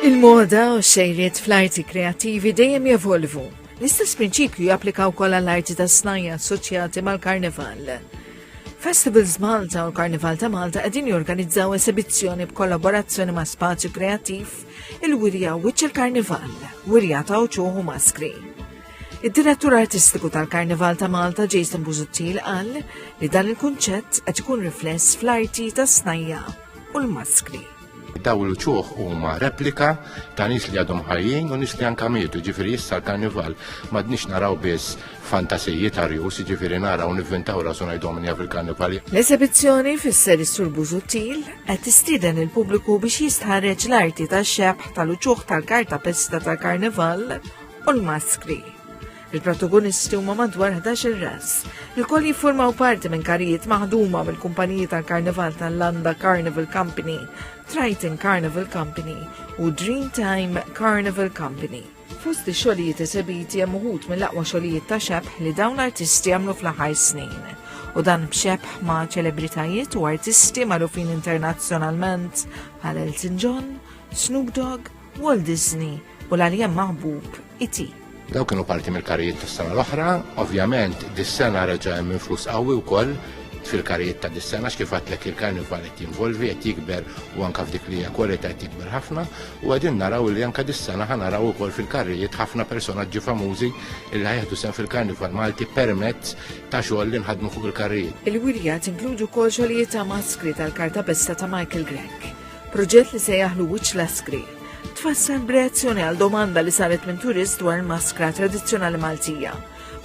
Il-moda u xejriet fl-arti kreattivi dejjem jevolvu. L-istess prinċipju japplika wkoll għall-arti tas-snajja assoċjati mal-karnival. Festivals Malta u l-Karnival ta' Malta qegħdin jorganizzaw esibizzjoni b'kollaborazzjoni ma' Spazju Kreattiv il-Wirja Wiċċ il-Karnival, Wirja ta' Uċuħu Maskri. Id-direttur artistiku tal-Karnival ta' Malta Jason Buzuttil qal li dan il-kunċett qed ikun rifless fl-arti tas-snajja u l-maskri. Daw l-uċuħ huma replika ta' nies li għadhom ħajjin u nies li anka mietu, ġifieri issa l-karnival m'għadniex naraw biss fantasiji ta' rjus, ġifieri naraw nivvintaw rasu ngħidhom minja fil-karnival. L-esebizzjoni fisser is-Sur Bużuttil qed tistieden il-pubbliku biex jistħarreġ l-arti tax-xebħ tal-uċuħ tal-kartapesta tal-karnival u l-maskri. Il-protagonisti huma madwar 11 ras, li kol jiffurmaw parti minn karijiet maħduma mill-kumpaniji tal-Karnival tal-Landa Carnival Company, Triton Carnival Company u Dreamtime Carnival Company. Fost ix-xogħlijiet esebiti hemm uħud mill-aqwa xogħlijiet ta' xebħ li dawn l-artisti għamlu fl-aħħar snin. U dan b'xebħ ma' ċelebritajiet u artisti magħrufin internazzjonalment bħal Elton John, Snoop Dogg, Walt Disney, U l-għaljem maħbub iti. Daw kienu parti mill-karijiet tas-sena l-oħra, ovvjament dis-sena reġa' hemm influss qawwi wkoll fil-karijiet ta' dis-sena x'kif għadlek il-karnival qed jinvolvi qed jikber u anke f'dik li hija kwalità qed jikber ħafna u qegħdin naraw li anke dis-sena ħa naraw ukoll fil-karrijiet ħafna personaġġi famużi li ħajħdu sehem fil-karnival Malti permezz ta' xogħol li nħadmu fuq il-karrijiet. Il-wirja tinkludu wkoll xogħlijiet ta' maskri tal-kartapesta ta' Michael Grech, proġett li se jaħlu wiċċ l-askri. tfassal b'reazzjoni għal domanda li saret minn turist dwar maskra tradizzjonali Maltija.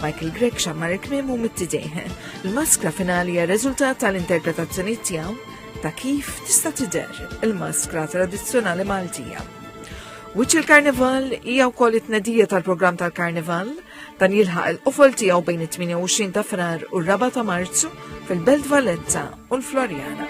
Michael Grek xammar il-kmim u mittidejh. Il-maskra finali hija riżultat tal-interpretazzjoni tiegħu ta' kif tista' tidher il-maskra tradizzjonali Maltija. Wiċċ il-Karnival hija wkoll it-tnedija tal-programm tal-Karnival dan jilħaq il-qofol tiegħu bejn it-28 ta' Frar u r-4 ta' Marzu fil-Belt Valletta u l-Florjana.